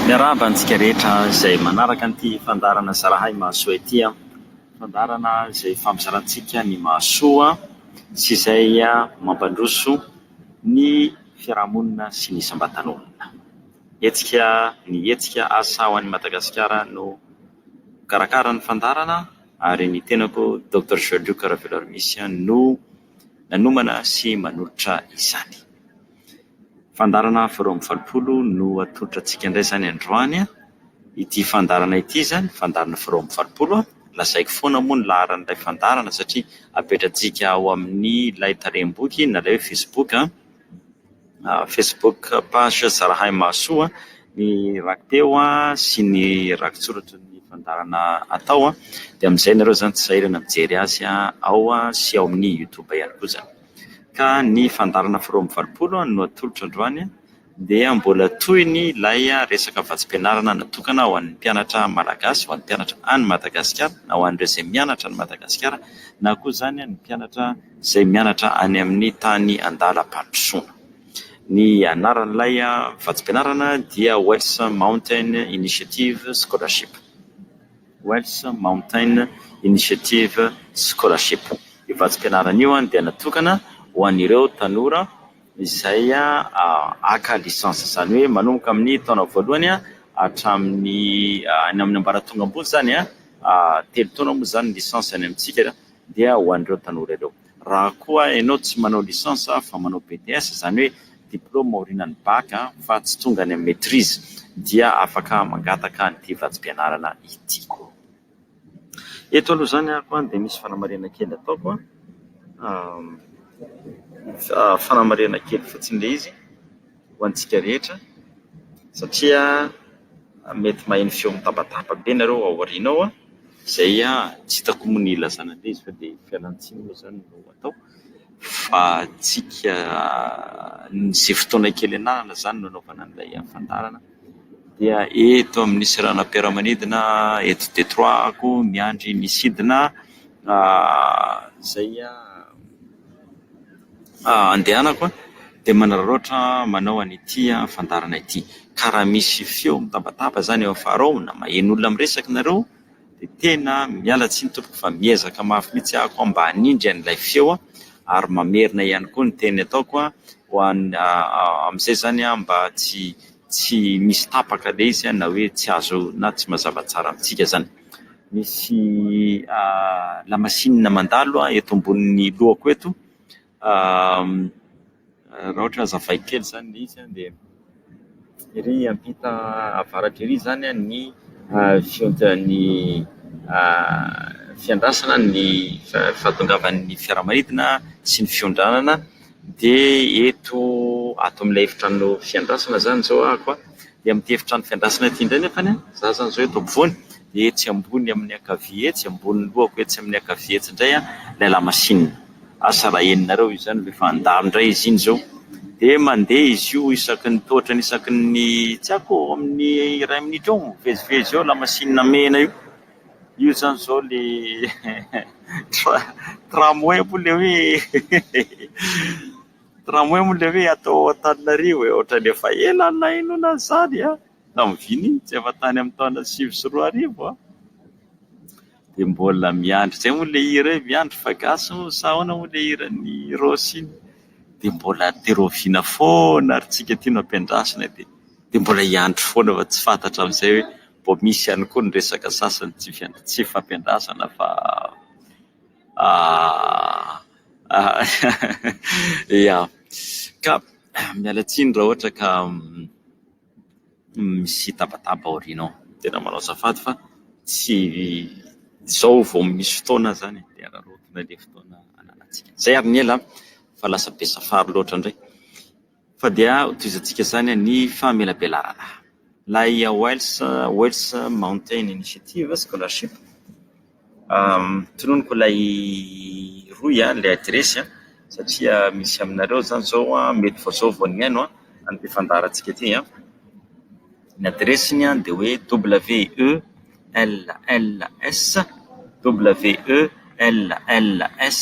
Miarahaba antsika rehetra izay manaraka an'ity fandaharana Zarahay Mahasoa ity. Fandaharana izay fampizarantsika ny mahasoa sy izay mampandroso ny fiarahamonina sy ny isam-batan'olona. Hetsika ny hetsika Asa ho an'i Madagasikara no mikarakara ny fandaharana ary ny tenako Doctor Joël Luc Ravelormisy no nanomana sy manolotra izany. Fandaharana faha roa amby valopolo no atolotra antsika indray izany androany an! Ity fandaharana ity izany, fandaharana faha roa amby valopolo an! Lazaiko foana moa ny laharan'ilay fandaharana satria apetrantsika ao amin'ny ilay tarehim-boky na ilay hoe facebook an! Facebook page Zarahahimahasoa an! Ny rakipeo an sy ny rakitsoratry ny fandaharana atao an! Dia amin'izay ianareo izany tsy sahirana mijery azy an! Ao sy ao amin'ny youtube ihany koa izany. ka ny fandaharana faharoa amby valopolo no atolotra androany dia mbola tohiny ilay resaka vatsim-pianarana natokana ho an'ny mpianatra malagasy, ho an'ny mpianatra any Madagasikara na ho an'ireo izay mianatra any Madagasikara na koa izany ny mpianatra izay mianatra any amin'ny tany an-dalam-pandrosoana. Ny anaran'ilay vatsim-pianarana dia Wells Mountain Initiative Scholarship. Welsh Mountain Initiative Scholarship. Io vatsim-pianarana io dia natokana ho an'ireo tanora izay haka licence, izany hoe manomboka amin'ny taona voalohany hatramin'ny any amin'ny ambaratonga ambony izany, telo taona moa izany ny licence any amintsika dia ho an'ireo tanora ireo. Raha koa ianao tsy manao licence fa manao BTS, izany hoe diplaoma aorianan'ny bac fa tsy tonga any amin'ny maitrise, dia afaka mangataka an'ity vatsim-pianarana ity. Eto aloha izany ako dia misy fanamarihana kely ataoko, fanamarihana kely fotsiny ilay izy. ho antsika rehetra satria mety maheno feo mitabataba be nareo ao aoriana ao an, izay tsy hitako moa ny ilazana an'ilay izy fa dia fialantsiny moa izany no atao fa antsika izay fotoana kely ananana izany no anaovana an'ilay fandaharana dia eto amin'ny seranam-piaramanidina eto Detroit aho miandry ny sidina izay an. Andehanako an! dia manararaotra manao an'ity fandaharana ity. Ka raha misy feo mitabataba izany eo afara ao na maheno olona miresaka ianareo dia tena miala tsiny tompoko fa miezaka mafy mihitsy ahako mba hanindry an'ilay feo ary mamerina ihany koa ny teny ataoko ho an'ny amin'izay izany mba tsy tsy misy tapaka ilay izy na hoe tsy azo na tsy mazava tsara amintsika izany. Misy lamasinina mandalo eto ambonin'ny lohako eto, raha ohatra hazavaiko kely izany ilay izy dia ery ampita avaratra ery izany ny fihontan'ny fiandrasana ny fahatongavan'ny fiaramanidina sy ny fiondranana Dia eto ato amin'ilay efitrano fiandrasana izany izao ahako dia amin'ity efitrano fiandrasana ity indray nefany an, za izany izao eto ampovoany dia etsy ambony amin'ny ankavia etsy, ambonin'ny lohako etsy amin'ny ankavia etsy indray an, ilay lamasinina. Asa raha henonareo izy izany ve fa handalo indray izy iny izao. Dia mandeha izy io isaky ny tohatra isaky ny tsy haiko eo amin'ny iray minitra eo mivezivezy eo lamasinina mena io. Io zany zao le tramway moa le hoe tramway moa le hoe atao Antananarivo e! Ohatran'ny efa ela nahenoana an'izany an! Tamin'ny vy mihintsy, efa tany amin'ny taona sivy sy roa arivo an! Dia mbola miandry izay moa le hira hoe miandry fa gasy moa sa ahoana moa le hiran'i Rossy iny? Dia mbola te-rahoviana foana ary tsika ity no ampiandrasina dia. dia mbola hiandry foana fa tsy fantatra amin'izay hoe mbola misy ihany koa ny resaka sasany tsy tsy hifampiandrasana fa ia ka miala tsiny raha ohatra ka misy tabataba aoriana ao tena manao azafady fa tsy izao vao misy fotoana aho izany dia araraotina ilay fotoana ananantsika izay ary ny ela fa lasa be safary loatra indray Fa dia hotohizantsika izany ny famelabelarana ilay Wales Wales Mountain Initiative Scholarship. Tononiko ilay rohy ilay adiresy satria misy aminareo izany izao mety vao izao vao nihaino an, ny fandaharantsika ity an, ny adiresiny dia hoe WELLS WELLS.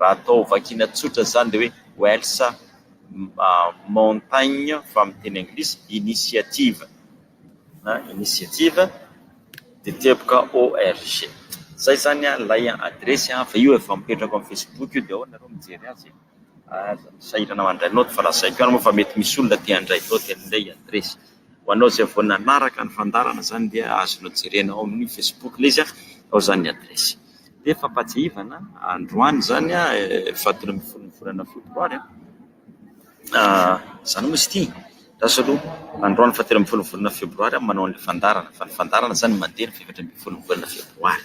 Raha atao vakiana tsotra izany dia hoe Wells Mountaignes fa amin'ny teny anglisy initiative na initiative dia teboka org. Izay izany ilay adiresy fa io efa mipetraka ao amin'ny facebook io dia ao ianareo mijery azy e. Sahirana mandray naoty fa lazaiko ihany moa fa mety misy olona te handray naoty an'ilay adiresy. Ho anao izay vao nanaraka ny fandaharana izany dia azonao jerena ao amin'ny Facebook ilay izy, ao izany ny adiresy. Dia fampahatsiahivana, androany izany, fahatelo ambin'ny folon'ny volana febroary, izany moa izy ity, andraso aloha, androany fahatelo ambin'ny folon'ny volana febroary aho no manao an'ilay fandaharana, fa ny fandaharana izany mandeha ny fahefatra ambin'ny folon'ny volana febroary.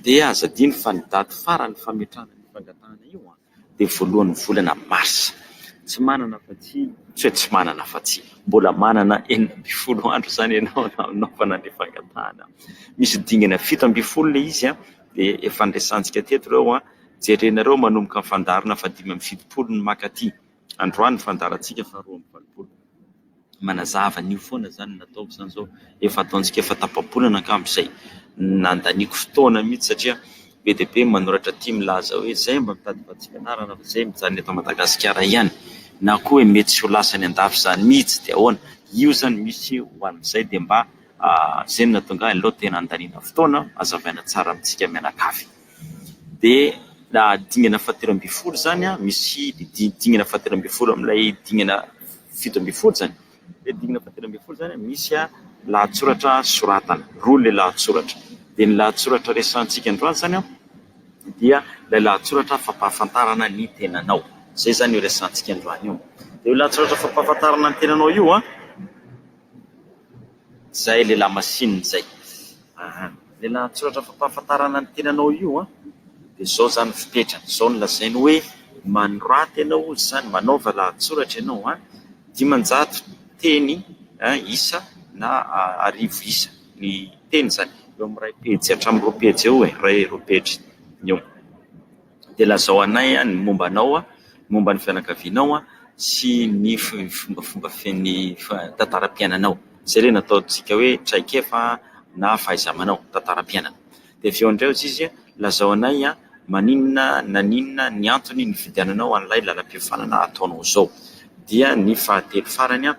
Dia aza adino fa ny daty farany fametrahana ny fangatahana io an! dia voalohan'ny volana marsa. Tsy manana afa-tsy, tsia tsy manana afa-tsy, mbola manana enina ambin'ny folo andro izany ianao hanaovana ny fangatahana. Misy dingana fito ambin'ny folo ilay izy dia efa niresahantsika teto ireo an, jerenareo manomboka ny fandaharana fahadimy amby fitopolo ny maka aty. Androany ny fandaharantsika faharoa amby valopolo. Manazava an'io foana izany no ataoko izany izao. Efa ataontsika efa tapa-bolana angamba izay. Nandaniako fotoana mihitsy satria be dia be ny manoratra aty milaza hoe izay mba mitady vatsim-pianarana fa izay mijanona eto Madagasikara ihany. Na koa hoe mety tsy ho lasa any an-dafy izany mihitsy dia ahoana. Io izany misy ho an'izay dia mba izay no nahatonga ahy aleo tena handaniana fotoana, hazavaina tsara amintsika mianakavy. dia na dingana fahatelo ambin'ny folo izany an, misy dingana fahatelo ambin'ny folo amin'ilay dingana fito ambin'ny folo izany, ilay dingana fahatelo ambin'ny folo izany an, misy lahatsoratra soratana, roa ilay lahatsoratra, dia ny lahatsoratra resahantsika androany izany an, dia ilay lahatsoratra fampahafantarana ny tenanao, izay izany io resahantsika androany io, dia io lahatsoratra fampahafantarana ny tenanao io an. Izay lehilahy masinina izay. Aha. Lehilahy an-tsoratra fampahafantarana ny tenanao io an! Dia izao izany ny fepetra, izao no lazainy hoe manoraty ianao hoy izany, manaova lahatsoratra ianao an! Dimanjato teny isa na arivo isa ny teny izany, eo amin'ny iray pejy hatramin'ny roa pejy eo e! Iray roa pejy eo. dia lazao anay ny momba anao, ny momba ny fianakavianao sy ny fombafomba fen'ny tantaram-piainanao. Izay ilay nataontsika hoe traikefa na fahaiza-manao, tantaram-piainana. Dia avy eo indray hoy izy, lazao anay maninona naninona ny antony nifidiananao an'ilay lalam-piofanana ataonao izao. Dia ny fahatelo farany,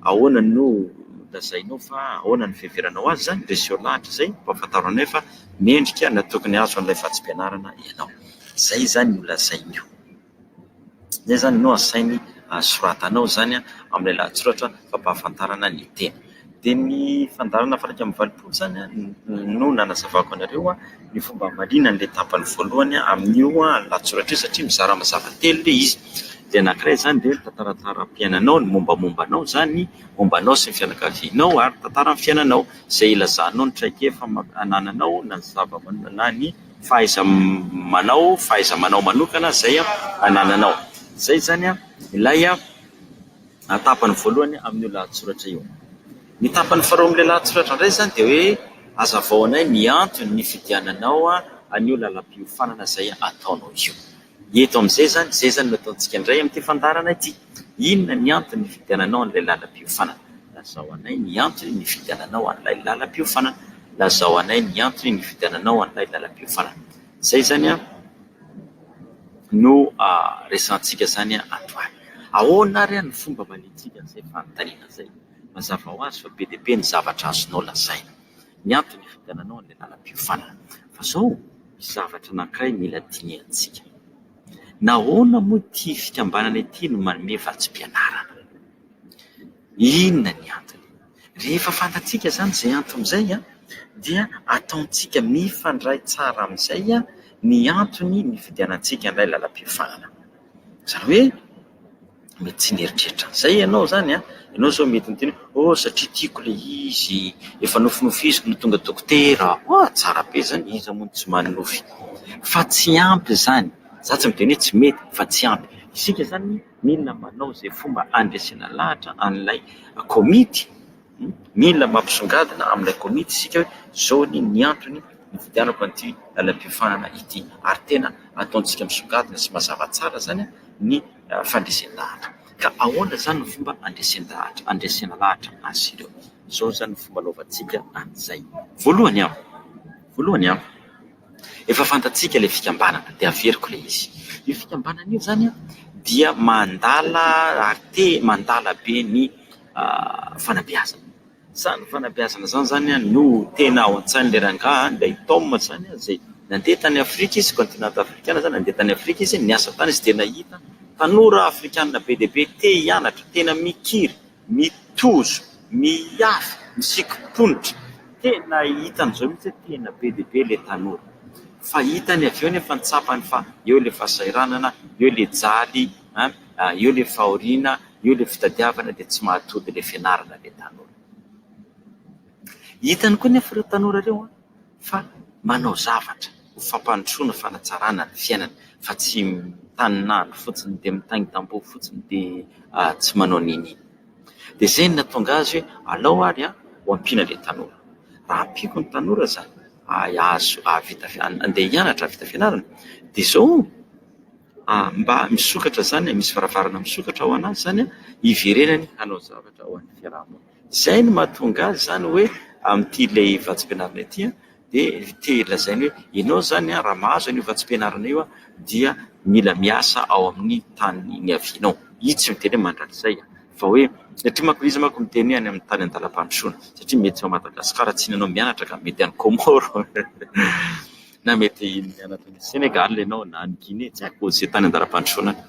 Ahoana no lazainao fa ahoana ny fiheveranao azy izany? Dia aseho lahatra izay mba hahafantarao anay fa mendrika na tokony hahazo an'ilay vatsim-pianarana ianao. Izay izany no lazainy io. Izay izany no asainy soratanao izany amin'ilay lahatsoratra fampahafantarana ny teny. Dia ny fandaharana valo iraika amby valopolo izany no nanazavako anareo. ny fomba hamaliana an'ilay tapany voalohany amin'io lahatsoratra io satria mizara mazava telo ilay izy. Dia ny anankiray izany dia ny tantaran-taharam-piainanao, ny mombamomba anao izany, momba anao sy ny fianakavianao ary ny tantaran'ny fiainanao izay ilazanao ny traikefa anananao na ny zava-manao na ny fahaiza-manao, fahaiza-manao manokana izay anananao. Izay izany ilay... na tapany voalohany amin'io lahatsoratra io. Ny tapany faharoa amin'ilay lahatsoratra indray izany dia hoe hazavao anay ny antony nifidiananao an'io lalam-piofanana izay ataonao io. Eto amin'izay izany, izay izany no ataontsika indray amin'ity fandaharana ity. Inona ny antony nifidiananao an'ilay lalam-piofanana? Lazao anay ny antony nifidiananao an'ilay lalam-piofanana. Lazao anay ny antony nifidiananao an'ilay lalam-piofanana. Izay izany an! no resahantsika izany androany. Ahoana ary no fomba hamaliantsika an'izay fanontaniana izay? Mazava ho azy fa be dia be ny zavatra azonao lazaina. Ny antony hividiananao an'ilay lalam-piofanana. Fa izao, misy zavatra anankiray mila dinihantsika. Nahoana moa ity fikambanana ity no manome vatsim-pianarana? Inona ny antony? Rehefa fantatsika izany izay antony izay dia ataontsika mifandray tsara amin'izay ny antony nividianantsika an'ilay lalam-piofana. Izany hoe mety tsy nieritreritra an'izay ianao izany. Ianao izao mety miteny hoe oh satria tiako ilay izy, efa nofinofiziko no tonga dokotera. Hoa, tsara be izany, iza moa no tsy manonofy? Fa tsy ampy izany. Izaho tsy midika hoe tsy mety fa tsy ampy. Isika izany Mila manao izay fomba handresena lahatra an'ilay komity. Mila mampisongadina amin'ilay komity isika hoe izao anie ny antony nividianako an'ity lalam-piofanana ity. Ary tena ataontsika misongadina sy mazava tsara izany ny fandresen-dahatra. Ka ahoana izany no fomba handresen-dahatra, handresena lahatra azy ireo? Izao izany no fomba hanaovantsika an'izay. Voalohany, voalohany an! Efa fantatsika ilay fikambanana dia averiko ilay izy. Io fikambanana io izany dia mandala ary te mandala be ny fanabeazana. Izany fanabeazana izany izany no tena ao an-tsain'ilay rangahy ilay Tom izany izay nandeha tany Afrika izy, kaontinanta afrikana izany, nandeha tany Afrika izy, niasa tany izy dia nahita tanora afrikana be dia be te hianatra, tena mikiry. Ny tojo, ny afo, ny sikim-ponitra, tena hitany izao mihitsy hoe tena be dia be ilay tanora. Fa hitany avy eo nefa ny tsapany fa eo ilay fahasahiranana, eo ilay jaly, eo ilay fahoriana, eo ilay fitadiavana dia tsy mahatody ilay fianarana ilay tanora. Hitany koa nefa ireo tanora ireo an! fa manao zavatra ho fampandrosoana, fanatsarana ny fiainana fa tsy mitanin'andro fotsiny dia mitaintambo fotsiny dia tsy manao n'inona. Dia izay no nahatonga azy hoe alao ary ho ampiana ilay tanora. Raha ampiako ny tanora izany hahavita handeha hianatra hahavita fianarana dia izao mba misokatra izany, misy varavarana misokatra ho an'azy izany hiverenany hanao zavatra ho an'ny fiaraha-monina. Izay no mahatonga azy izany hoe amin'ity ilay vatsim-pianarana ity dia te lazaina hoe ianao izany raha mahazo an'io vatsim-pianarana io dia mila miasa ao amin'ny tany niavianao. Io tsy miteny hoe mandrakizay fa hoe satria manko izy manko miteny hoe any amin'ny tany an-dalam-pandrosoana satria mety tsy ao Madagasikara tsy hianao mianatra ka mety any Comore na mety mianatra any Senegal ianao na any Guinée tsy haiko izay tany an-dalam-pandrosoana any.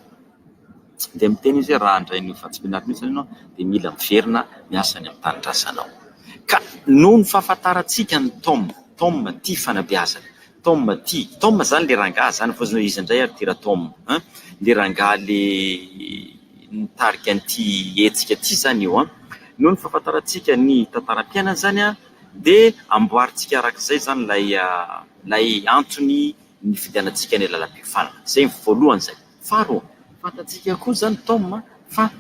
Tsy dia miteny izy hoe raha handray an'io fantsipinarana io izany ianao dia mila miverina miasa any amin'ny tanindrazanao. Ka noho ny fahafantarantsika an'i Tom, Tom tia fanabeazana, Tom tia, Tom izany ilay rangahy izany, fa hoy izy indray ary ity Ratom an, ilay rangahy ilay nitarika an'ity hetsika ity izany io an, noho ny fahafantarantsika ny tantaram-piainana izany an, dia amboarintsika araka izay izany ilay ilay antony nifidianantsika ny lalam-piofanana. Izay ny voalohany izay. Tsara ô! Fantatsika koa izany Tom a, fa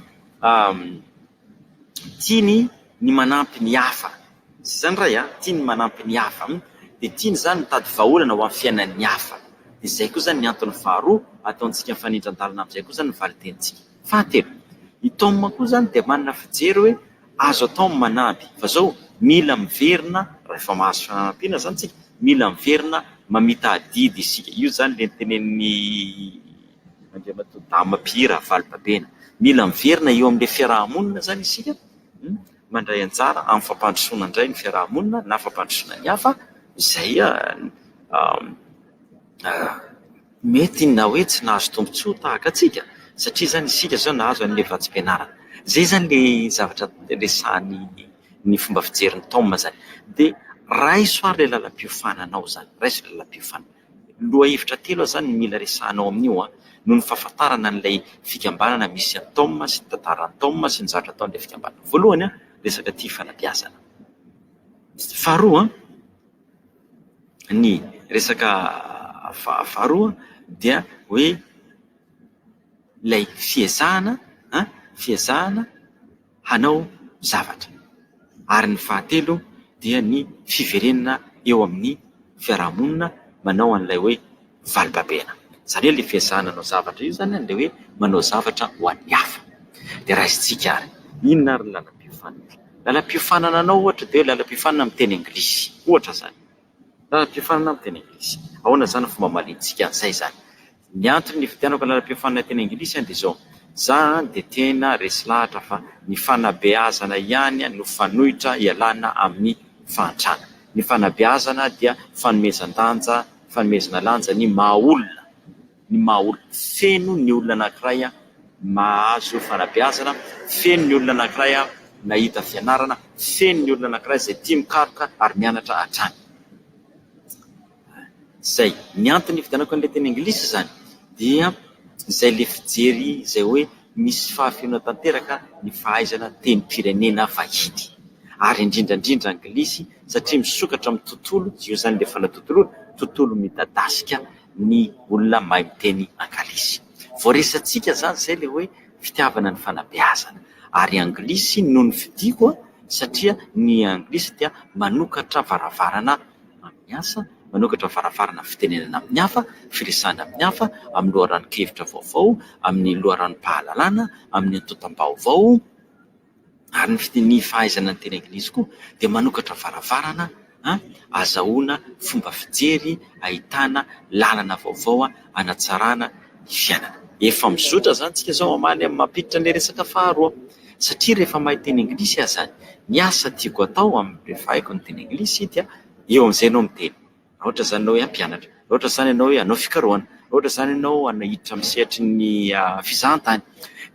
tiany ny manampy ny hafa. Tsy izany Ray a? Tiany ny manampy ny hafa an! Dia tiany izany ny mitady vahaolana ho an'ny fiainan'ny hafa. Dia izay koa izany ny antony faharoa ataontsika mifanindran-dalana amin'izay koa izany ny valin-tenintsika. Fahatelo, i Tom koa izany dia manana fijery hoe. Azo atao ny manampy fa zao mila miverina rehefa mahazo fanampiana zany tsika mila miverina mamita adidy isika io zany le nitenenin'ny Andriamatoa Dama Pierre Ravalobabena. Mila miverina eo amle fiaraha-monina zany isika mandray anjara amin'ny fampandrosoana indray ny fiaraha-monina na fampandrosoana ny hafa izay mety inona na hoe tsy nahazo tombontsoa tahaka antsika satria izany isika izao nahazo an'ilay vatsim-pianarana. Izay izany ilay zavatra resahan'ny ny fomba fijerin'ny tom izany. Dia raiso ary ilay lalam-piofananao izany, raiso ilay lalam-piofana. Lohahevitra telo aho izany no mila resahanao amin'io an, noho ny fahafantarana an'ilay fikambanana misy an'i tom sy ny tantaran'i tom sy ny zavatra ataon'ilay fikambanana. Voalohany an, resaka tia fanabeazana. Faharoa an. Ny resaka faharoa dia hoe ilay fiezahana an, fiezahana hanao zavatra ary ny fahatelo dia ny fiverenana eo amin'ny fiarahamonina manao an'ilay hoe. Valin-babena. Izany hoe ilay fiezahana hanao zavatra io izany dia hoe manao zavatra ho an'ny hafa. Dia raisintsika ary, inona ary ny lalam-piofanana? Lalam-piofanana anao ohatra dia hoe lalam-piofanana amin'ny teny anglisy, ohatra izany. Lalam-piofanana amin'ny teny anglisy. Ahoana izany ny fomba hamaliantsika an'izay izany? Ny antony nividianako lalam-piofanana teny anglisy dia izao, za dia tena resy lahatra fa ny fanabeazana ihany no fanoitra hialana amin'ny fahantrana. Ny fanabeazana dia fanomezan-danja fanomezana lanja ny maha olona, ny maha olona. Feno ny olona anankiray mahazo fanabeazana, feno ny olona anankiray nahita fianarana, feno ny olona anankiray izay tia mikaroka ary mianatra hatrany. Izay. Ny antony nividianako an'ilay teny anglisy izany dia izay ilay fijery izay hoe Misy fahafenoana tanteraka ny fahaizana tenim-pirenena vahiny ary indrindra indrindra anglisy satria misokatra amin'ny tontolo, tsy eo izany ilay fanatontoloana, tontolo midadasika ny olona mahay miteny angalisy. Voaresatsika izany izay ilay hoe fitiavana ny fanabeazana ary anglisy no nofidiako satria ny anglisy dia manokatra varavarana. amin'ny asa, manokatra varavarana fitenenana amin'ny hafa, firesahana amin'ny hafa, amin'ny loharanon-kevitra vaovao, amin'ny loharanom-pahalalana, amin'ny antontam-baovao ary ny fite- ny fahaizana ny teny anglisy koa dia manokatra varavarana ahazahoana fomba fijery, ahitana lalana vaovao hanatsarana ny fiainana. Efa mizotra izany isika izao hamaly amin'ny maha mpiditra ilay resaka faharoa satria rehefa mahay teny anglisy aza ny asa tiako atao amin'ny mpivahiko ny teny anglisy dia eo amin'izay ianao miteny. Raha ohatra izany ianao hoe hampianatra, raha ohatra izany ianao hoe hanao fikarohana, raha ohatra izany ianao hiditra amin'ny sehatry ny fizahantany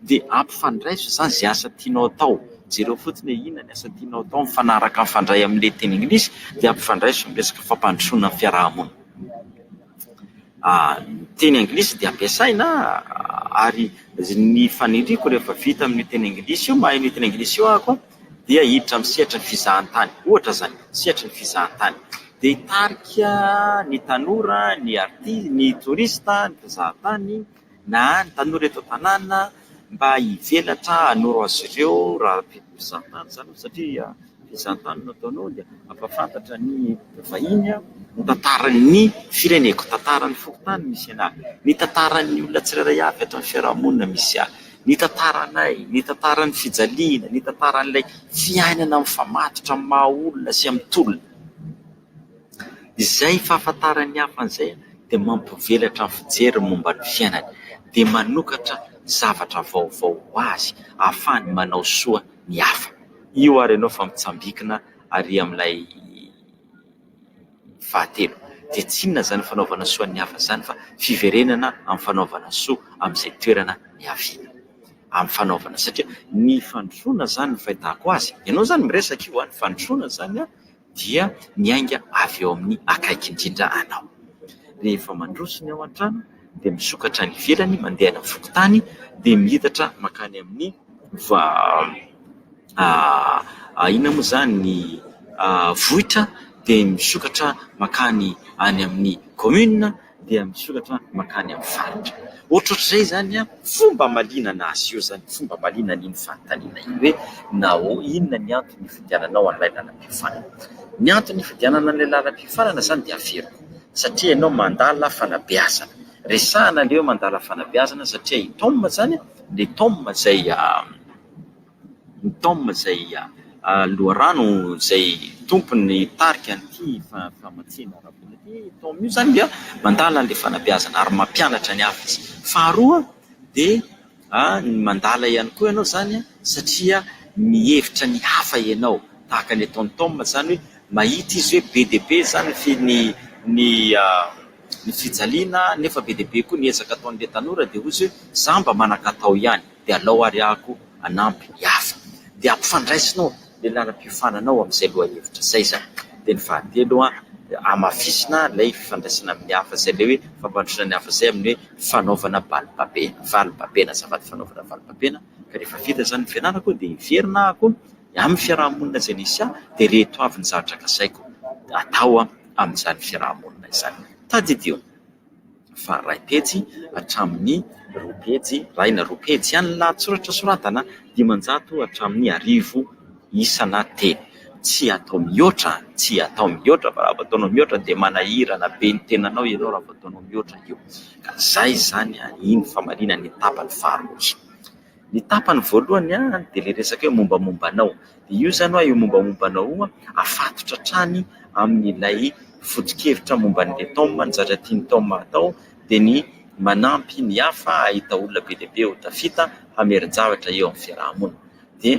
dia ampifandraiso izany izay asa tianao atao. Jereo fotsiny hoe inona ny asa tianao atao mifanaraka mifandray amin'ilay teny anglisy dia ampifandraiso amin'ny resaka fampandrosoana ny fiaraha-monina. ny teny anglisy dia ampiasaina ary ny faniriako rehefa vita amin'io teny anglisy io, mahay an'io teny anglisy io ahako dia hiditra amin'ny sehatry ny fizahantany, ohatra izany, sehatry ny fizahantany dia hitarika ny tanora, ny arti- ny touriste, ny mpizahatany. na ny tanora eto an-tanàna mba hivelatra hanoro azy ireo raha te ho mpizahatany izany ianao satria fizahan-tany no ataonao dia hampahafantatra ny vahiny ny tantaran'ny fireneko, tantaran'ny fokontany misy anà, ny tantaran'ny olona tsirairay avy eto amin'ny fiarahamonina misy ahy, ny tantaranay, ny tantaran'ny fijaliana, ny tantaran'ilay fiainana mifamatotra amin'ny maha olona sy amin'ny tolona. Izay fahafantaran'ny hafa an'izay dia mampivelatra ny fijeriny momba ny fiainany, dia manokatra zavatra vaovao ho azy ahafahany manao soa ny hafa. Io ary ianao efa mitsambikina ary amin'ilay fahatelo. Dia tsy inona izany fanaovana soa ny hafa izany fa fiverenana amin'ny fanaovana soa amin'izay toerana niaviana, amin'ny fanaovana... satria ny fandrosoana izany ny fahitako azy, ianao izany miresaka io an, ny fandrosoana izany an, dia miainga avy eo amin'ny akaiky indrindra anao. Rehefa mandroso ny ao an-trano dia misokatra any ivelany mandeha any amin'ny fokontany dia miitatra mankany amin'ny inona moa izany ny vohitra dia misokatra mankany any amin'ny kaominina. dia misoratra mankany amin'ny faritra. Ohatrohatr'izay izany an, fomba amalianana azy io izany, fomba amaliana an'iny fanontaniana iny hoe nahoa, inona ny antony nifidiananao an'ilay lalam-piofanana. Ny antony nifidianana an'ilay lalam-piofanana izany dia averiko, satria ianao mandala fanabeazana. Resahina ilay hoe mandala fanabeazana satria i Tom izany an, ilay Tom izay. Ny Tom izay loharano izay tompon'ny tarika an'ity famatsiana ara-bola ity. Io Tom io izany dia mandala an'ilay fanabeazana ary mampianatra ny hafa izy. Faharoa dia mandala ihany koa ianao izany satria mihevitra ny hafa ianao, tahaka ny ataon'i Tom izany hoe mahita izy hoe be dia be izany ny fijaliana nefa be dia be koa ny ezaka ataon'ilay tanora dia hoy izy hoe izaho mba manan-katao ihany. dia alao ary aho koa hanampy ny hafa. Dia ampifandraisinao ilay lalam-piofanana ao amin'izay lohahevitra izay izany. Dia ny fahatelo, dia hamafisina ilay fifandraisana amin'ny hafa izay ilay hoe fampandrosoana ny hafa izay amin'ny hoe fanaovana balibabena, valibabena, azafady, fanaovana valibabena. Ka rehefa vita izany ny fianarako dia hiverina aho koa amin'ny fiaraha-monina izay nisy ahy, dia ireto avy ny zavatra kasaiko atao amin'izany fiaraha-monina izany. Tadidio. fa iray pejy hatramin'ny roa pejy, iray na roa pejy ihany ny lahatsoratra soratana, dimanjato hatramin'ny arivo isa na teny. Tsy atao mihoatra, tsy atao mihoatra fa raha vao ataonao mihoatra dia manahirana be ny tenanao ianao raha vao ataonao mihoatra io. Ka izay izany, iny famarinana ny tapany faharoa iny. Ny tapany voalohany dia ilay resaka hoe mombamomba anao. Dia io izany hoe io mombamomba anao io afatotra hatrany amin'ilay foto-kevitra momba an'ilay Tom, ny zavatra tian'i Tom hatao dia ny manampy ny hafa hahita olona be dia be ho tafita hamerin-javatra eo amin'ny fiaraha-monina. Dia...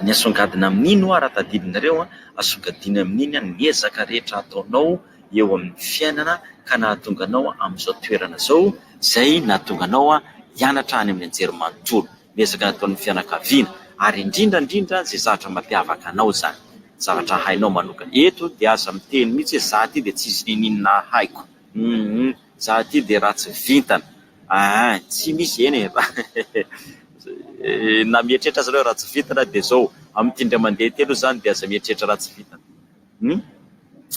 Ny asongadina amin'iny ho'a raha tadidinareo an, asongadina amin'iny an ny ezaka rehetra ataonao eo amin'ny fiainana ka nahatonga anao amin'izao toerana izao izay nahatonga anao hianatra any amin'ny anjerimanontolo. Ny ezaka nataon'ny fianakaviana ary indrindra indrindra izay zavatra mampiavaka anao izany, zavatra hainao manokana. Eto dia aza miteny mihitsy hoe za ty dia tsisy ninoninona haiko. Za ty de ratsy vintana aa tsy misy eny e raha na mieritreritra aza enao ratsy vintana de zao amty indray mandeha ty aloha zany de aza mieritreritra ratsy vintana hum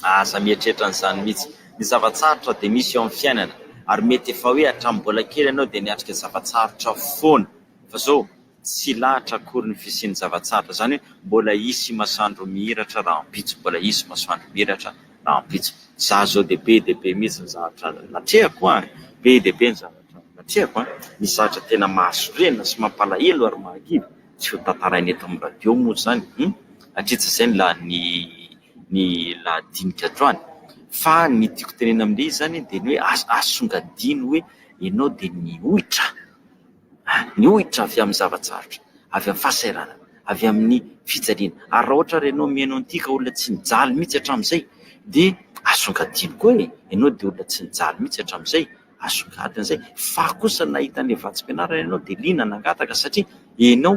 aza mieritreritra anzany mitsy ny zavatsarotra de misy eo amty fiainana ary mety efa hoe atram bola kely enao de niatrika zavatsarotra foana fa zao Tsy lahatra akory ny fisian'ny zava-tsarotra, izany hoe mbola hisy masoandro mihiratra rahampitso, mbola hisy masoandro mihiratra rahampitso. Izaho izao dia be dia be mihitsy ny zavatra natrehako an! Be dia be ny zavatra natrehako an! Misy zavatra tena mahasorena sy mampalahelo ary mahakivy tsy ho tantaraina eto amin'ny radio moa izany hum! Hatritsy izay ny lahin'ny ny lahadinika androany. Fa ny tiako tenenina amin'ilay izy izany dia ny hoe aza asongadino hoe ianao dia nihoitra. Ny ohitra avy amin'ny zava-tsarotra, avy amin'ny fahasahiranana, avy amin'ny fijaliana. Ary raha ohatra ary ianao mihaino an'ity ka olona tsy nijaly mihitsy hatramin'izay dia asongadino koa e! Ianao dia olona tsy nijaly mihitsy hatramin'izay, asongadina izay. Fa kosa nahita an'ilay vatsim-pianarana ianao dia liana nangataka satria ianao.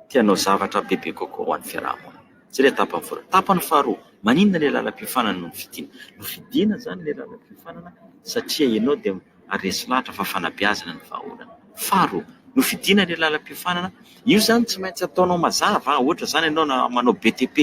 te hanao zavatra bebe kokoa ho an'ny fiaraha-monina. Izay ilay tapany voalohany. Tapany faharoa, maninona ilay lalam-piofanana no nofidiana? Nofidiana izany ilay lalam-piofanana satria ianao dia resy lahatra fa fanabeazana ny vahaolana. Faharoa, nofidiana ilay lalam-piofanana, io izany tsy maintsy ataonao mazava, ohatra izany ianao na manao BTP,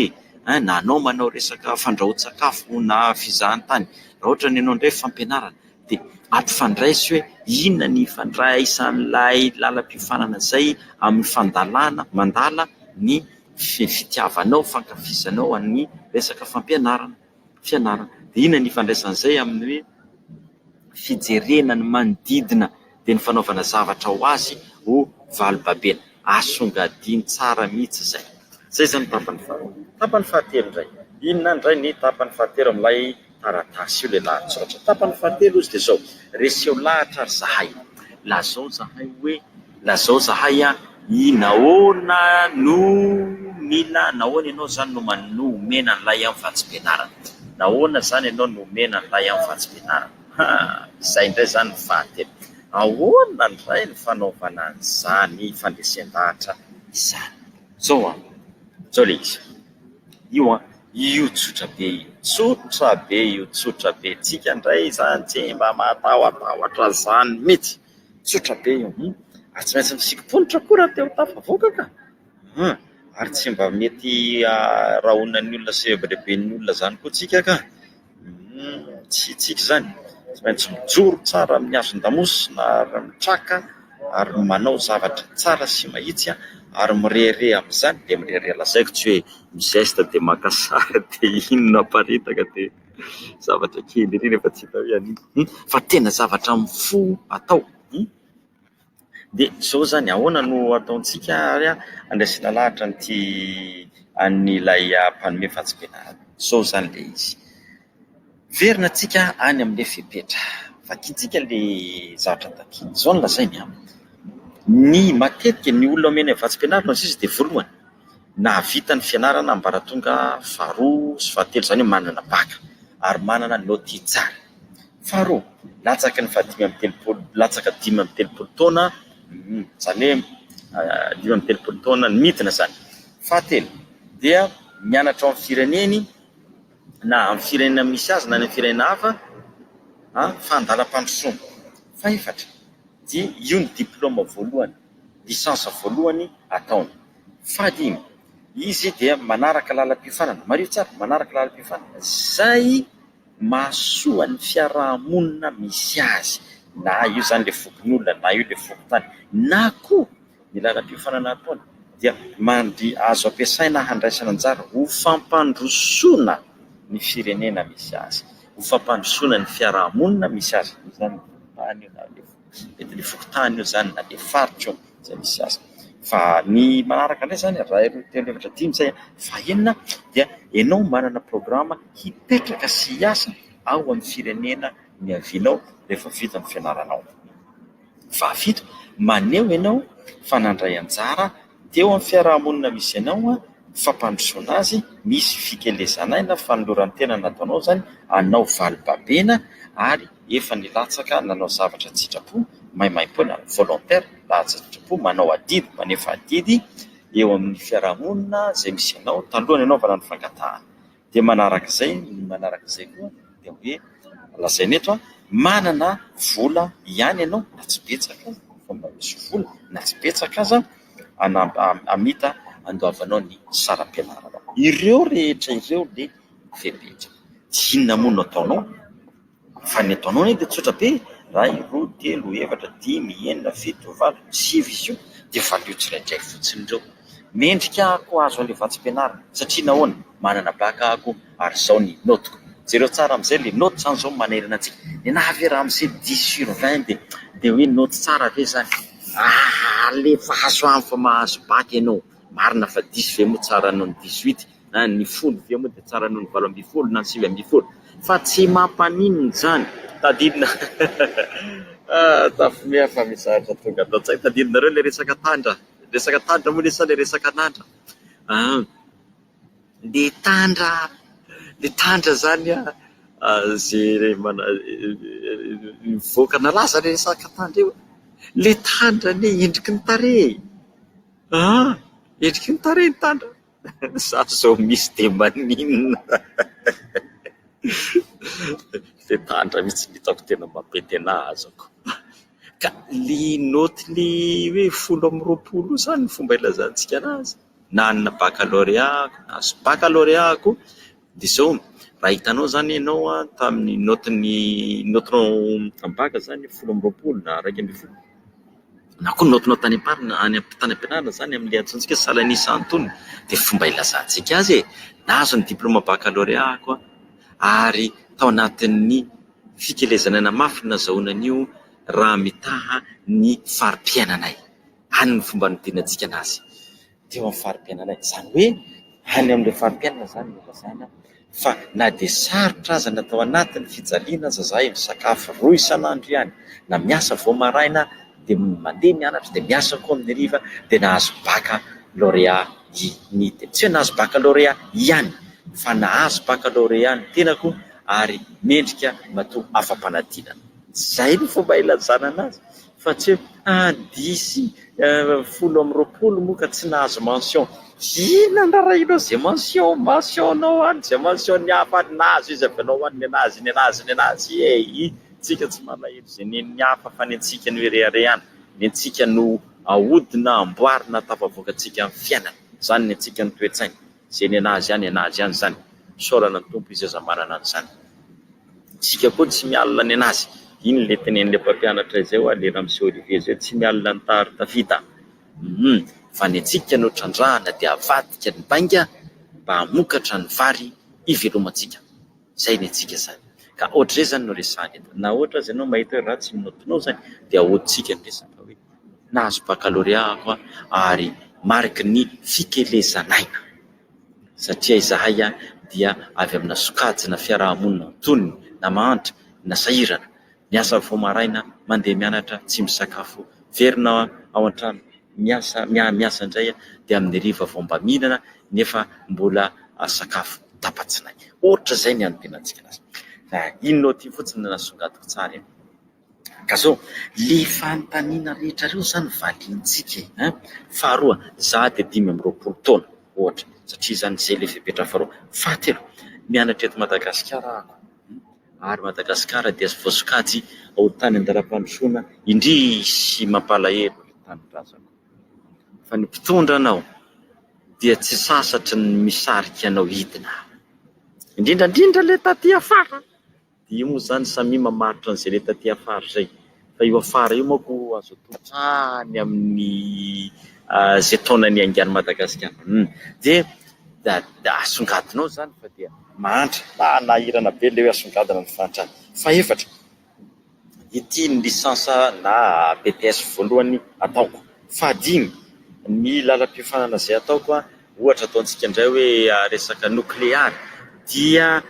na anao manao resaka fandrahoan-tsakafo na fizahantany, raha ohatra ny anao indray fampianarana. dia ampifandray sy hoe inona ny ifandraisan'ilay lalam-piofanana izay amin'ny fandalana, mandala ny fitiavanao, fankafizanao an'ny resaka fampianarana, fianarana. Dia inona ny ifandraisan'izay amin'ny hoe fijerena ny manodidina dia ny fanaovana zavatra ho azy ho valobabena. Asongadino tsara mihitsy izay. Izay izany ny tapany faharoa. Tapany fahatelo indray. Inona indray ny tapany fahatelo amin'ilay. taratasy io ilay lahatsoratra. Tapany fahatelo izy dia izao, Reseo lahatra ry zahay. Lazao izahay hoe, lazao izahay an, i nahoana no mila, nahoana ianao izany no man, no omena an'ilay amin'ny vatsim-pianarana. Nahoana izany ianao no omena an'ilay amin'ny vatsim-pianarana. Haa! Izay indray izany ny fahatelo. Ahoana indray ny fanaovana an'izany fandresen-dahatra izany? Izao an, izao ilay izy. Io an! Io tsotra be io. Tsotra be io, tsotra be. Tsika ndray izany tsy mba mahatahotahotra izany mihitsy. Tsotra be io. Ary tsy maintsy misikim-ponitra koa raha te ho tafavoaka ka. An! Ary tsy mba mety arahonan'ny olona sy rebireben'ny olona izany koa tsika ka. Tsy hitsiky izany. Tsy maintsy mijoro tsara amin'ny hazon-damosina ary mitraka ary manao zavatra tsara sy mahitsy ary mirehareha amin'izany dia mirehareha. Lazaiko tsy hoe mi-geste dia maka sary dia iny no aparitaka dia zavatra kely ery nefa tsy hita hoe an'inona fa tena zavatra amin'ny fo atao. Dia izao izany, ahoana no ataontsika ary handraisana lahatra an'ity an'ilay mpanome fantsipena azy. Izao izany ilay izy, miverina tsika any amin'ilay fepetra, vakintsika ilay zavatra takiana. Izao no lazainy an, ny matetika ny olona omena vatsim-pianarana sisa dia voalohany, nahavita ny fianarana ambaratonga faharoa sy fahatelo, izany hoe manana baka ary manana note tsara. Faharoa, latsaky ny fahadimy amby telopolo, latsaka dimy amby telopolo taona, izany hoe dimy amby telopolo taona ny midina izany. Fahatelo, dia mianatra ao amin'ny fireneny na amin'ny firenena misy azy na any amin'ny firenena hafa fa an-dalam-pandrosoana. Fahefatra, dia io no diplaoma voalohany, licence voalohany ataony. Fahadimy, izy dia manaraka lalam-piofanana, mariho tsara, manaraka lalam-piofanana izay. mahasoa ny fiaraha-monina misy azy, na io izany ilay fokonolona, na io ilay fokontany, na koa ny lalam-piofanana ataony dia mandria azo ampiasaina handraisana anjara ho fampandrosoana ny firenena misy azy, ho fampandrosoana ny fiaraha-monina misy azy. Tsy mety ny fokontany eo izany na dia faritra eo izay misy azy. Fa ny manaraka indray izany, iray, roa, telo, efatra, dimy, izay faha enina, dia ianao manana programa hipetraka sy hiasa ao amin'ny firenena niavianao rehefa vita ny fianaranao. Faha fito, maneho ianao fa nandray anjara Dia eo amin'ny fiaraha-monina misy anao, ny fampandrosoana azy, misy fikelezana ahy na fanoloran-tena nataonao izany anao valibabena ary efa nilatsaka nanao zavatra an-tsitrapo, maimaimpoana, volontaire, laza an-tsitrapo, manao adidy, manefa adidy eo amin'ny fiaraha-monina izay misy anao talohan'ny hanaovana ny fangatahana. dia manaraka izay ny manaraka izay koa dia hoe lazaina eto manana vola ihany ianao na tsy betsaka aza fa mba misy vola na tsy betsaka aza hamita handoavanao ny saram-pianarana ireo rehetra ireo dia fepetra dia inona moa no ataonao Fa ny ataonao anie dia tsotra be, iray, roa, telo, efatra, dimy, enina, fito, valo, sivy izy io dia valio tsirairay fotsiny ireo. Mendrika aho koa hahazo an'ilay vatsim-pianarana satria nahoana? Manana baka aho koa ary izao ny naute-ko. Jereo tsara amin'izay, ilay naute izany izao no manerana antsika. Nenaha ve raha misy hoe dix sur vingt dia hoe naute tsara ve izany? Alefaso amiko fa mahazo baka ianao. Marina fa dix ve moa tsara noho ny dix-huit? na ny folo vy eo moa dia tsara noho ny valo ambin'ny folo na ny sivy ambin'ny folo fa tsy mampaninona izany tadidina tafimeha fa misy zavatra tonga ato an-tsaina tadidinareo ilay resaka tandra resaka tandra moa ilay sa ilay resaka an'andra an le tandra le tandra izany an izay mivoaka nalaza ilay resaka tandra io le tandra anie endriky ny tarehy an endriky ny tarehy ny tandra Za zao misy de maninona fetandra mitsy no hitako tena mampety anah azako ka ny naoty ny hoe folo amby roapolo io zany ny fomba ilazantsika anazy na ny bakalôrea na ny bakalôreako dia izao, raha hitanao izany ianao tamin'ny naotin'ny, naotinao am-baka izany folo amby roapolo na iraika ambin'ny folo, na koa ny naotinao tany am-parina, tany am-pianarana izany amin'ilay antsointsika salan'isa antonony dia fomba ilazantsika azy e! Nahazo ny diplaoma bakalorea aho ary tao anatin'ny fikelezanana mafy ny nazahoana an'io raha mitaha ny fari-piainanay. Any no fomba nidirantsika anazy. teo amin'ny fari-piainana iny. Izany hoe any amin'ilay fari-piainana izany no ilazana fa na dia sarotra aza ny atao anatin'ny fijaliana aza izahay, misakafo roa isan'andro ihany, na miasa vao maraina dia mandeha mianatra, dia miasa koa amin'ny hariva, dia nahazo bacc lauréat i Nite. Tsy hoe nahazo bacc lauréat ihany fa nahazo bacc lauréat ny tenako ary mendrika matoa afa-panadinana. Izay no fomba ilazana anazy. Fa tsy hoe ah d'ici folo amby roapolo moa ka tsy nahazo mention. Inona narahina izay mention mention nao any izay mention ny hafa any nahazo izy avy anao any ny anazy ny anazy ny anazy ee tsika tsy malahelo izay nen'ny hafa fa ny antsika no ireharehana ny antsika no ahodina amboarina atafavoaka tsika ny fiainana izany ny antsika ny toetsaina izay ny anazy any anazy any izany isaorana ny Tompo izy aza manana an'izany. Isika koa tsy mialona ny an'azy. Iny ilay tenenin'ilay mpampianatra izay ho'a ilay ramose Olivier izay hoe tsy mialona ny tary tafita an! Fa ny antsika no trandrahana dia avadika ny bainga mba hamokatra ny vary hivelomantsika. Izay ny antsika izany. Ka ohatr'izay izany no resahana eto. Na ohatra aza ianao mahita hoe ratsy ny note-nao izany dia ahodintsika ny resaka fa hoe nahazo baccalauréat aho ary mariky ny fikelezan'aina. satria izahay dia avy amina sokajina fiaraha-monina antonony na mahantra na sahirana, miasa vao maraina, mandeha mianatra, tsy misakafo, very na ao an-trano miasa miasa indray dia amin'ny hariva vao mba mihinana nefa mbola sakafo tapa-tsinay. Ohatra izay ny an'ny tenantsika lasa. Fa inona ity fotsiny no nasongadiko tsara e! Ka zao, le fanontaniana rehetra reo zany valiantsika e! ein! Faharoa, za de dimy amby roapolo taona ohatra, satria zany zay le fepetra faharoa. Fahatelo, mianatra eto Madagasikara aho, ary Madagasikara dia voasokajy ho tany an-dalam-pandrosoana indrisy mampalahelo le tanindrazako. Fa ny mpitondra anao dia tsy sasatry ny misarika anao hidina, indrindra indrindra le taty afara. Dia io moa izany samia mamaritra an'izay le taty afara izay. Fa io afara io manko azo atao hatrany amin'ny izay taona niaingan'i Madagasikara. Humm. Dia dia asongadinao izany fa dia mahantra, manahirana be ilay hoe asongadina ny fahantrana. Fahefatra, ity ny licence na BTS voalohany ataoko. Fahadimy, ny lalam-piofanana izay ataoko Ohatra ataontsika indray hoe resaka nokleary dia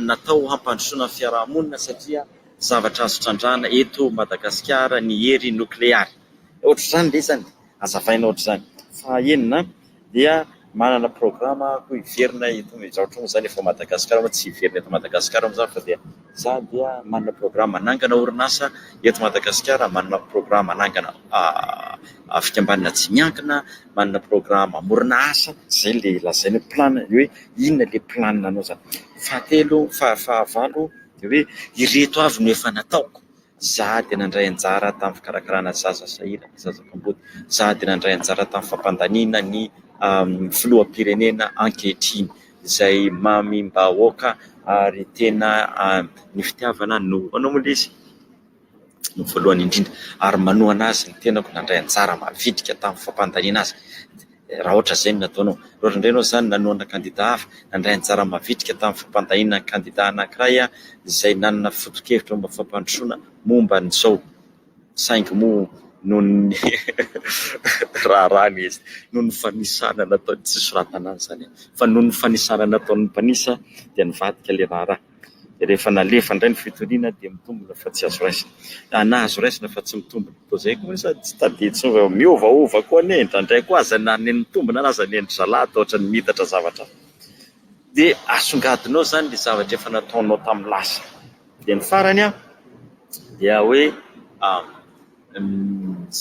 natao hampandrosoana ny fiarahamonina satria zavatra azo trandrahana eto Madagasikara ny hery nokleary. Ohatr'izany ve izany? Azavaina ohatr'izany. Faha enina dia manana programa hiverina eto, izany ohatr'izany efa ao Madagasikara moa tsy hiverina eto Madagasikara moa izany fa dia Za dia manana programa hanangana orinasa eto Madagasikara, manana programa hanangana fikambanana tsy miankina, manana programa hamorona asa, izay ilay lazaina hoe plan, hoe inona ilay plan anao izany. Fahatelo, fahavalo dia hoe ireto avy no efa nataoko. Izaho dia nandray anjara tamin'ny fikarakarana zaza sahirana, zaza mpanjono. Izaho dia nandray anjara tamin'ny fampandaniana ny filoham-pirenena ankehitriny izay mamim-bahoaka ary tena ny fitiavana no anao moa izy no voalohany indrindra ary manohana azy ny tenako nandray anjara mavitrika tamin'ny fampandaniana azy. Raha ohatra izay no nataonao, raha ohatra indray ianao izany nanohana kandida hafa, nandray anjara mavitrika tamin'ny fampandahiana ny kandida anankiray izay nanana foto-kevitra momba ny fampandrosoana momba an'izao, saingy moa noho ny raharahany izy, noho ny fanisana nataony, tsy soratana any izany an, fa noho ny fanisana nataon'ny mpanisa dia nivadika ilay raharaha. dia rehefa nalefa indray ny fitoriana dia mitombina fa tsy azo raisina. Ah, na azo raisina fa tsy mitombina. Toa izay koa ve sa tsy tadidintsika fa miovaova koa anie indraindray koa aza na ny mitombina ary aza ny endry zalahy dia ohatran'ny miitatra zavatra. Dia asongadinao izany ilay zavatra efa nataonao tamin'ny lasa. Dia ny farany an, dia hoe, ah,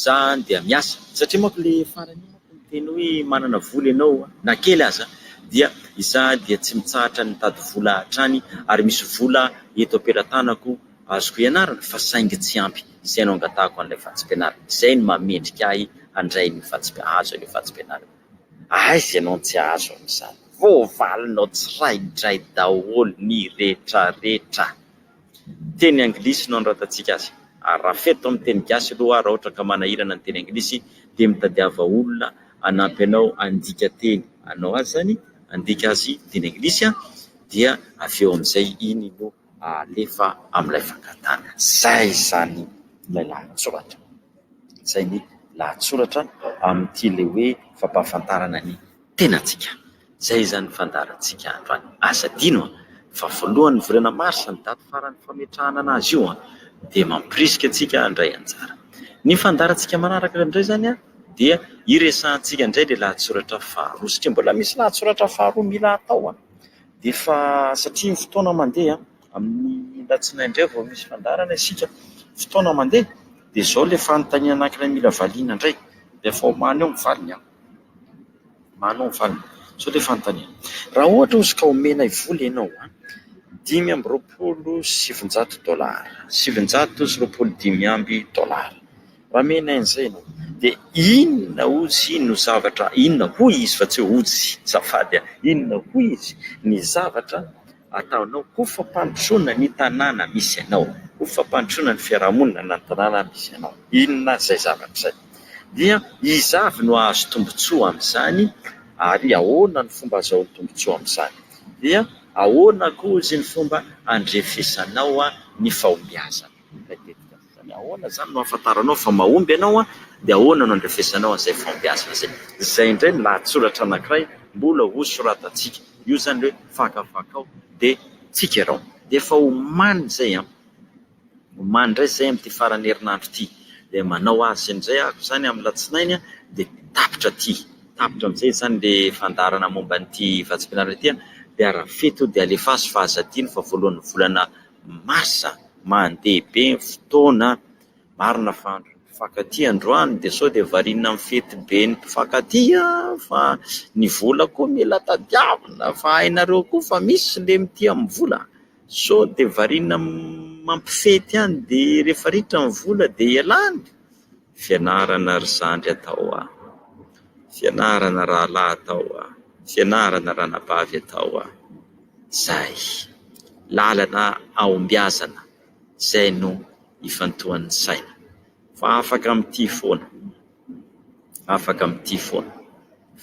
Za dia miasa satria manko le farany io manko miteny hoe manana vola ianao na kely aza dia za dia tsy mitsahatra ny mitady vola hatrany ary misy vola eto am-pelatanako azoko ianarana fa saingy tsy ampy izay no angatahako an'ilay vatsim-pianarana izay no maha mendrika ahy handray ny vatsim-pianarana hahazo an'io vatsim-pianarana aiza ianao no tsy hahazo an'izany voavalinao tsiraidray daholo ny retraretra. teny anglisy no anoratantsika azy ary raha fety amin'ny teny gasy aloha raha ohatra ka manahirana ny teny anglisy dia mitadiava olona hanampy anao handika teny anao azy izany handika azy teny anglisy dia avy eo amin'izay iny no alefa amin'ilay fangatahana. Izay izany ilay lahatsoratra. Izay ny lahatsoratra amin'ity ilay hoe fampahafantarana ny Tenantsika. Izay izany fandaharantsika androany. Asa adino an! fa voalohan'ny volana marsa ny daty faran'ny fametrahana anazy io an! dia mampirisika antsika handray anjara. Ny fandaharantsika manaraka indray izany an! dia hiresahantsika indray ilay lahatsoratra faharoa satria mbola misy lahatsoratra faharoa mila atao an! dia efa satria ny fotoana mandeha an! amin'ny alatsinainy indray vao misy fandaharana isika, fotoana mandeha dia izao ilay fanontaniana anankiray mila valiana indray dia efa omaly eo ny valiny an! Manao ny valiny. Izao ilay fanontaniana. Raha ohatra ozy ka omenay vola ianao an, dimy amby roapolo sy sivinjato dolara, sivinjato sy roapolo dimy amby dolara. Raha omenay an'izay ianao, dia inona ozy no zavatra, inona hoy izy fa tsy hoe ozy, zafady an, inona hoy izy ny zavatra. ataonao ho fampandrosoana ny tanàna misy anao, ho fampandrosoana ny fiarahamonina na ny tanàna misy anao, inona aza izay zavatra izay, dia iza avy no hahazo tombontsoa amin'izany ary ahoana ny fomba azahoany tombontsoa amin'izany? Dia ahoana koa hozy ny fomba handrefesanao ny fahombiazana? Ilay tetikasa. Izany ahoana izany no ahafantaranao fa mahomby ianao dia ahoana no andrefesanao an'izay fahombiazana izay? Izay indray ny lahatsoratra anankiray mbola ho soratantsika. Io izany ilay hoe fakafakao dia tsikerao. Dia efa omaly izay an! Omaly indray izay amin'ity faran'ny herinandro ity. Dia manao azy indray aho izany amin'ny latsinainy dia tapitra aty. Tapitra amin'izay izany ilay fandaharana momba an'ity vatsim-pianarana ity dia arafeto dia alefaso fa aza adino fa voalohan'ny volana Mars, Mandeha be ny fotoana. Marina fa andron'ny mpifankatia androany dia sao dia variana amin'ny fetiben'ny mpifankatia fa ny vola koa mila tadiavina fa hainareo koa fa misy ilay mitia amin'ny vola. Sao dia variana mampifety ihany dia rehefa ritra ny vola dia ialany. Fianarana ry zandry atao hoa! Fianarana rahalahy atao hoa! Fianarana ranabavy atao hoa! Izay. Lalana hahombiazana izay no ifantohan'ny saina. Fa afaka mitia foana. Afaka mitia foana.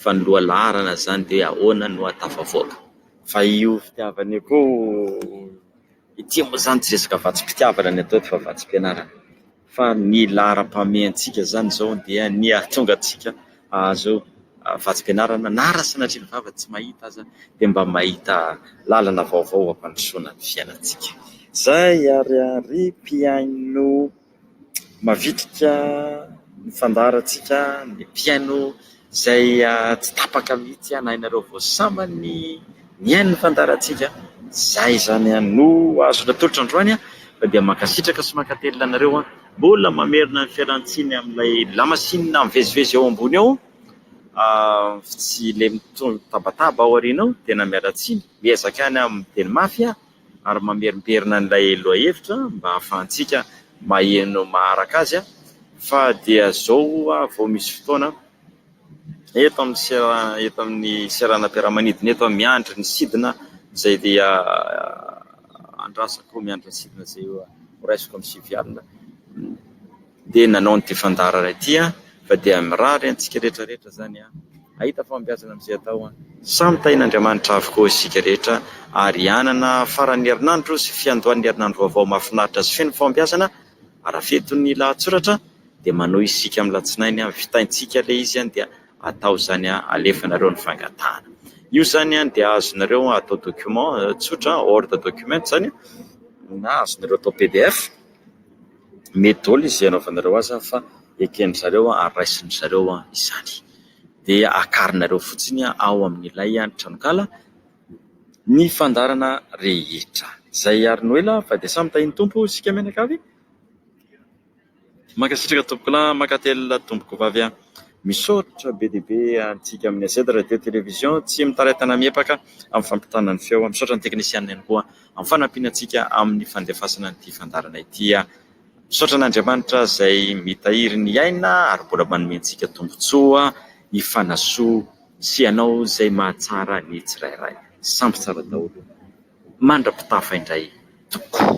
Fa ny lohalaharana izany dia hoe ahoana no hahatafavoaka. Fa io fitiavana io koa, ity moa izany tsy resaka vatsim-pitiavana no atao eto fa vatsim-pianarana. fa ny laharam-pahamea antsika izany izao dia ny hahatonga antsika hahazo vatsim-pianarana na raha sanatria ny vava tsy mahita aza dia mba mahita lalana vaovao hampandrosoana ny fiainantsika. Izay ary ry mpihaino mavitrika ny fandaharantsika, ny mpihaino. izay tsy tapaka mihitsy na ianareo vao sambany nihaino ny fandaharantsika, izay izany no azoko atolotra androany an, fa dia mankasitraka sy mankatelina anareo an, mbola mamerina ny fialantsiny amin'ilay lamasinina mivezivezy eo ambony eo sy ilay mitabataba ao aoriana ao, tena miala tsiny, miezaka ihany amin'ny teny mafy an. ary mamerimberina an'ilay lohahevitra mba hahafahantsika maheno maharaka azy fa dia izao ho'a vao misy fotoana eto amin'ny sera eto amin'ny seranam-piaramanidina eto aho miandry ny sidina izay dia andrasako miandry ny sidina izay horaisiko amin'ny sivy alina dia nanao an'ity fandaharana ity fa dia mirary antsika rehetra rehetra izany hahita fahombiazana amin'izay atao. Samy tahin'Andriamanitra avokoa isika rehetra ary hanana faran'ny herinandro sy fiandohan'ny herinandro vaovao mahafinaritra sy feno fahombiazana ara-fetin'ny lahatsoratra dia manohy isika amin'ny latsinainy vitaintsika ilay izy dia atao izany alefanareo ny fangatahana io izany dia azonareo atao document tsotra word document izany na azonareo atao pdf Mety daholo izay anaovanareo azy fa eken-dry zareo ary raisin-dry zareo izany. Dia akarinareo fotsiny ao amin'ilay tranonkala ny fandaharana rehetra. Izay ary no ela fa dia samy tahin'ny Tompo isika mianakavy e! Mankasitraka tompokolahy, mankatelina tompokovavy an! Misaotra be dia be antsika amin'ny AZ Radio Télévision tsy mitaritana miepaka amin'ny fampitana ny feo. Misaotra ny teknisianina ihany koa. amin'ny fanampiana antsika amin'ny fandefasana ity fandaharana ity. Misaotra an'Andriamanitra izay mitahiry ny aina ary mbola manome antsika tombontsoa hifanasoa sy hanao izay mahatsara ny tsirairay. Samy tsara daholo mandra-pitafa indray tokoa.